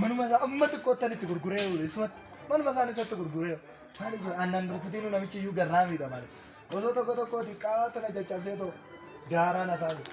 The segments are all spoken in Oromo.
Manuma isaa amma xiqqoottan itti gurguree oole isumatti manuma isaan isatti gurguree maali kun aannan rukutiinuu namichi iyyuu garraa miidha maali osoo tokko tokko xiqqaa tana caccabsee ta'u daaraan asaa jiru.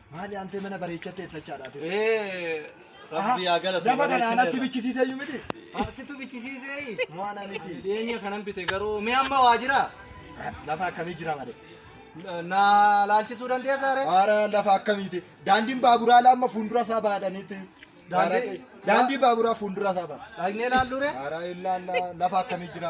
Maali antee mana bareechattee ittachaadha ati. Ee rabbi yaa galatu Lafa kana anas bareechine. bichisiisee iyyuu miti. Asitu bichisiisee. Mo'ana miti. Dhiyeenya kanan bite garuu mee amma waa jira. Lafa akkamii jira malee. Na laalchisuu dandeessaa ree? Haara lafa akkamiiti. Daandiin baaburaa ala amma fuuldura isaa baadhaniiti. Daandii- Daandii baaburaa fuuldura isaa baadha. Dhaqnee laalluu ree? Haara illaa lafa akkamii jira.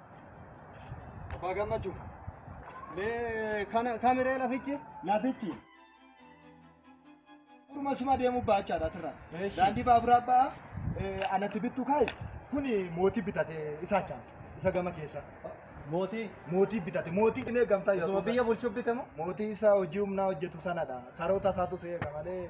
Abbaa gammachuu. Mee kana kamiree lafichi? Lafichi. Dhuma suma deemuu baachaadha asirraa. Eeshi. Daandii baaburaa ba'aa eh, anatti bittu kaa'i. Kun mootii bitate isa achaan isa gama keessa. Mootii. Mootii bitate mootii dhimee gamtaa Osuma biyya bulchuu bitamu. Mootii isaa hojii humnaa hojjetu sanadha. Saroota isaatu seeqa malee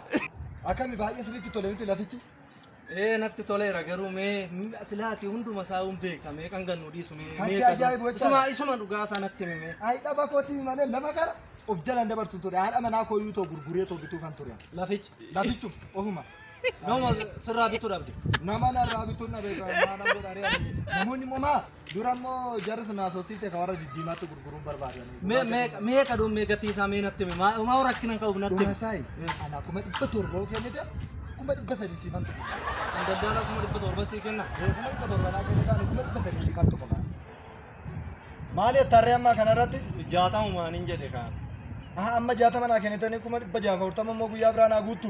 Akkami baay'ee sirriitti tole miti lafichi. Ee natti toleera garuu mee silaati hunduma isaa hin beekta mee kan gannu dhiisu mee. Kan si ajaa'ibu jechaadha. Isuma isuma dhugaa isaa natti himi mee. Ayi dhaba kootii malee lafa gara of jalaan dabarsu ture. Haadha manaa koo iyyuu too gurguree too bituu kan ture. Lafichi Lafichu ofuma. nama sirraa bituu dhabde. Nama narraa bituun dhabe irraa maadhaan godharee ani. Namoonni immoo maa Dura immoo jarri sun haasofsiifte kan warra diddiimaatti gurguruun barbaadani. Mee mee mee kadhuun mee gatii isaa mee natti himi. Maa maa rakkina hin qabu natti himi. Dhumasaayi anaa kuma dhibba torba yoo kennite kuma dhibba sadii siifan tufa. Kan daldalaa kuma dhibba torba sii kenna. Ee kuma dhibba torba naa kennite ani kuma dhibba sadii siifan tufa. Maali tarree ammaa kanarratti? Jaatamu maanin jedhe kaan. Aha amma jaatama naa kennitanii kuma dhibba jaaf afurtama immoo guyyaa biraa naa guuttu.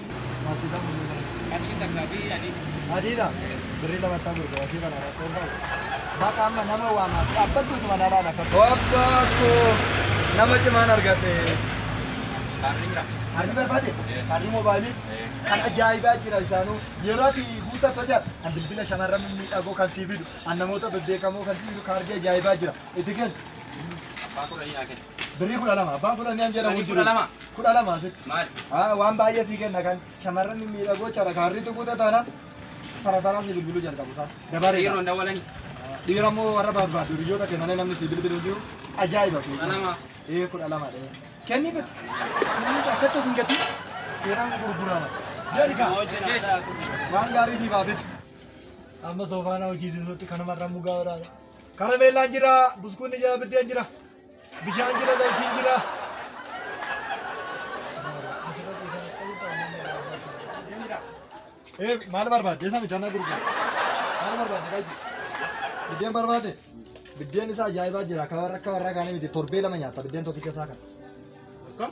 Qarshii takka fi adii. Adiidha. Birrii lama ta'u gurgura. Ishii kana rakkoo hin qabu. Baqa amma nama waamaa. Dhaabbattu utuma na laala akka. Abbaa koo nama cimaan argadhe. Kaarri jira. Kaarri barbaade? Kaarri moobaayilii? Kan ajaa'ibaa jira isaanuu. Yeroo ati guutaa tolcha kan bilbila shamarran mimmiidhagoo kan sii fidu, kan namoota bebbeekamoo kan sii fidu kaarri ajaa'ibaa jira. Itti kenni. Abbaa koo dhahii naa kenni. Birrii kudha lama abbaan fudhannee an jedhamu Birrii jiru. kudha lama? Kudha lama asitti. Maal? Haa waan baay'ee sii kenna kan shamarran mimmiidhagoo cara kaarrii tuquuta taana tara taraa sii bilbiluu jalqabu isaa. Dabaree. Dhiiroon dawwalanii. Dhiira moo warra barbaadu hiriyoota kee malee namni sii bilbilu hin jiru. Ajaa'iba sii. Kudha lama. Ee kudha lama dhee. Kennii bitu. Akkatti of hin gatii. Seeraan gurgurama. Jedhi kaa. Waan gaarii siif haa bitu. Amma soofaana hojii siisuutti kanuma irra mugaa waraana. Karameellaan jira, buskuunni jira, biddeen jira. Bishaan jira zaytiin jira. Eh, maal barbaadde? Isa midhaan na gurgura. Maal barbaadde qayyii? Biddeen barbaadde? Biddeen isaa ajaa'ibaa jira. Akka warra akka warra kaanii miti. Torbee lama nyaata biddeen tokkicha isaa kana. Akkam?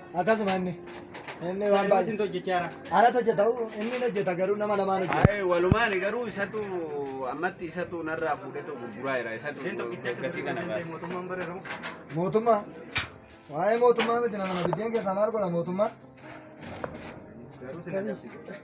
Akkasuma inni. Inni waan baay'ee. Isin hojjechaara. Anatu hojjeta inni hin hojjeta garuu nama lamaan hojjeta. Ayi walumaan garuu isatu ammatti isatu narraa fuudhetu gurguraa jira isatu gatii kana baasa. Mootummaan barreeru. Mootummaa. Waa'ee mootummaa miti nama biddeen keessaa maal godha mootummaa? Garuu sila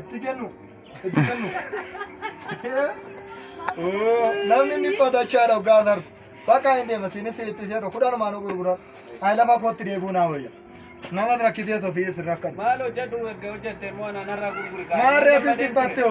Itti kennu. Itti kennu. Oo, Namni inni uffata achaadha hoggaa asaru. Bakka hin deema siinis siliphisee dha kudhan maaloo gurguran. Ayi lafa kootti deebi'uu naa wayya. Namas rakkisee sofii isin rakkadhu. Maal hojjedhu erga hojjette immoo anaan har'aa gurguri kaa. Maarree atis dhibbatte hoo.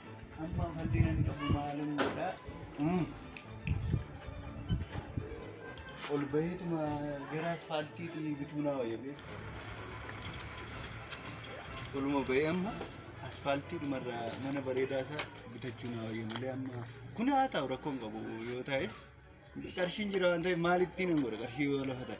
Amma falli nan qabu maalin godha. Ol baheetuma gara asfaaltiitii bituu naa wayya beeku. Oluma bahee amma asfaaltiidhumarra mana bareedaa isaa bitachuu naa wayya malee amma kun haa ta'u rakkoon qabu yoo ta'es qarshiin jira waan ta'eef maalittiin hin godha qarshii yoo lafa ta'e.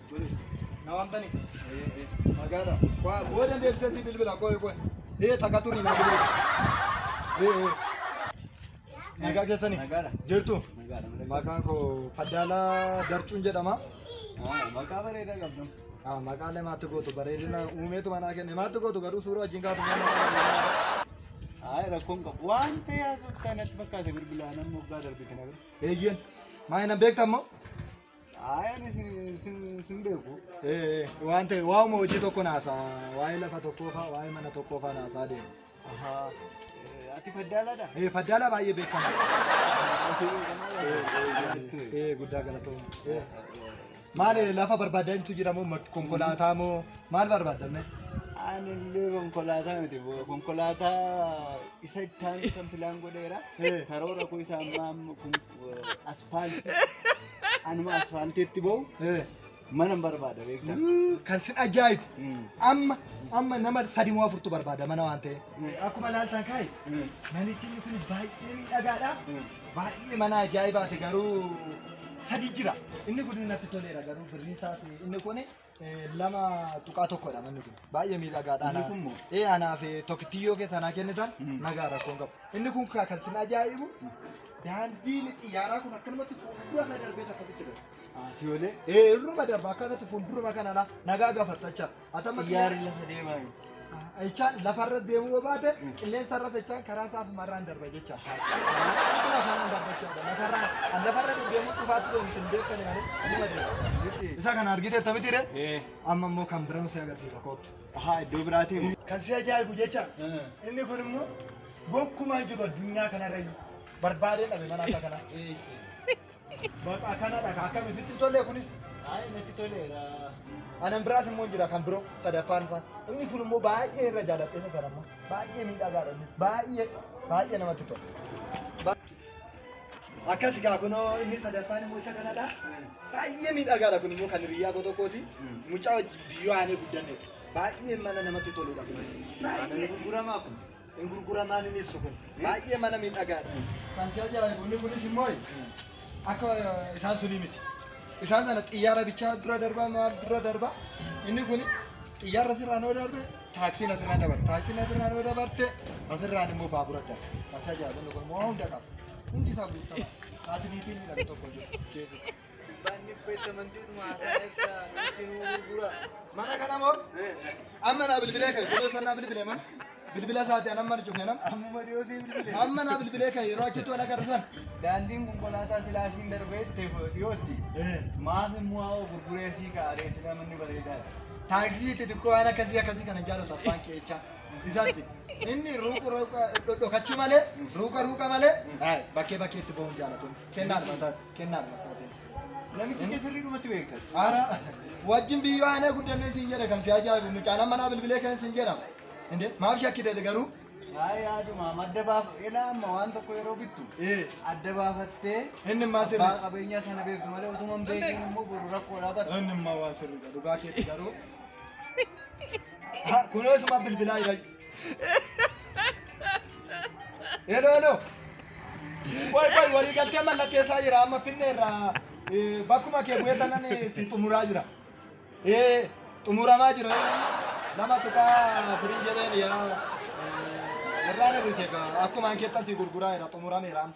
Na waamtani? Magaala. Waa booda deebisee si bilbila qoy qoy. Ee takka turi na bilbila. Ee ee. Nagaa keessani? Nagaadha. Jirtu? Nagaadha. Maqaan koo Faddaalaa Darcuun jedhama. Maqaa bareedaa qabdu. Ah, Maqaalee maatti gootu bareedina uumeetu manaa kenne maatti gootu garuu suuraa wajjin kaatu mana Hayi rakkoon qabu. Waan ta'ee haasoftaa natti fakkaate bilbilaan amma waggaa darbe kana bira. Eeyyeen. Maa hin beektammoo? Ayan sin beeku. Waan ta'e waa'uma hojii tokko naasaa waa'ee lafa tokkoo faa waa'ee mana tokkoo faa naasaa deema. Ati faddaaladha? Eh, Faddaalaa baay'ee beekamaa. Eh, Guddaa galatooma. Eh. Maal eh, lafa barbaaddaa himtu jira moo mak- konkolaataa moo maal barbaaddamme? Ani illee konkolaataa miti boo. Konkolaataa isa ittaan kan filaan godheera. Eh. Karoora koo isa ammaa amma kun Asfaaltii. Anuma asfaaltiitti ba'u mana hin barbaada beektaa. Kan sin ajaa'ibu amma amma nama sadi moo afurtu barbaada mana waan ta'eef. Akkuma ilaaltan kaayi manichi inni kun baay'ee miidhagaadha. Baay'ee mana ajaa'ibaati garuu sadi jira. Inni kun natti toleera garuu birriin isaas inni kun lama tuqaa tokkodha manni kun baay'ee miidhagaadha. Inni kun moo? Ee anaaf tokkittiyyoo kee tanaa kennitan nagaa rakkoon qabu. Inni kun kaa kan sin ajaa'ibu daandiin xiyyaaraa kun akkanumatti fuuldura isaa darbee akkasitti darba. Asiyoolee Ee irruma darba akkanatti fuulduruma kanadha nagaa gafattacha. Atamma xiyyaarri lafa deemaa jiru. Echaan lafa irra deemuu yoo baate qilleensa irra sechaan karaa isaa asuma irraan darba jecha. Asuma kanaan darba jecha. Lafa irraa an lafa irra deddeemuu cufaatti deemu isin beektani malee anuma deema. Isa kana argite akkamitti ree? Eh. Amma immoo kan biraan si agarsiisa koottu. Ahaa iddoo biraatiin. Kan si ajaa'ibu jecha. Inni kun immoo gonkumaa hin jiru addunyaa kanarra barbaadee dhabe mana akka kanaa. Bakka kanadha ka akkami sitti hin tolle kunis Ayi natti toleera. anan biraas immoo hin jira kan biroo sadaffaan faa inni kun immoo baay'ee irra jaaladheessa sana immoo baay'ee miidhagaadha innis baay'ee baay'ee namatti tola. Ba- Akkas gaa kunoo inni sadaffaan immoo isa kanadha baay'ee miidhagaadha kun immoo kan hiriyyaa koo tokkooti mucaa wajjin biyyoo aanee guddanneedha baay'ee mana namatti toludha kunis baay'ee. Gurguramaa kun. hin gurguramaan hin ibsu kun baay'ee mana miidhagaadha. Kan si ajaa'ibu inni kunis immoo akka isaan sunii miti. Isaan sana xiyyaara bichaa dura darbaa maal dura darbaa inni kun xiyyaara asirraan yoo darbe taaksiin asirraan dabarte taaksiin asirraan yoo dabarte asirraan immoo baabura darbe. Kan si ajaa'ibu inni kun immoo hunda qaba. Hundi isaa guuttama. Taasisiitiin midhagu tokko jiru. Mana kana moo? Amma naa bilbilee ka'e. Yeroo sana naa bilbilee maa? Bilbila isaati an amma arju keenan. Ammuma dhiyoo sii bilbile. Amma naa bilbilee ka'e yeroo achitti wal agarru sana. Daandiin konkolaataa silaasiin darbee teefoo dhiyootti. Maaf immoo haa'oo gurguree sii kaa'aree sila manni bareedaadha. Taaksii itti xiqqoo waan akkasii akkasii kana hin jaallatu abbaan kee jechaa. Isaatti inni ruuqa ruuqa dhokachuu malee ruuqa ruuqa malee bakkee bakkee itti ba'uu hin jaallatu. Kennaa dhufa isaatti. kennaa dha masootiin. Namichi kee sirrii dhumatti beekta. Ara wajjin biyyoo aanaa guddannee siin jedhe kan si ajaa'ibu mucaan amma naa bilbilee kan siin jedhama. Inde maaf shakkite garuu? Waa'ee yaadumaa madda baafa ilaa amma waan tokko yeroo bittu Ee adda baafattee inni immaa abbaa sirrii. qabeenyaa sana beektu malee utuma hin beekin immoo boru rakkoodhaa bara. Inni immaa waan sirrii dha dhugaa keetti garuu. Ha, Kunoo isuma bilbilaa jira. Hello, hello. Qoy qoy walii galtee mallatteessaa jira amma finne irraa eh, bakkuma kee bu'ee tanan eh, si xumuraa jira. Eh, xumuramaa jira. Nama tuqaa firii jedheen yaa eh, irraan hir'ise gaa akkumaan keettan si gurguraa jira xumurameera amma.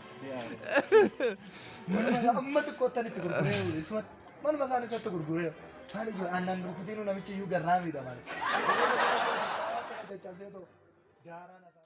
Manuma isaa amma xiqqoottan itti gurguree oole. Isuma manuma isaan isatti gurguree oole. Maal ijoo aannan rukutiin namichi iyyuu garraamiidha malee. Caccabsee too daaraan asaa.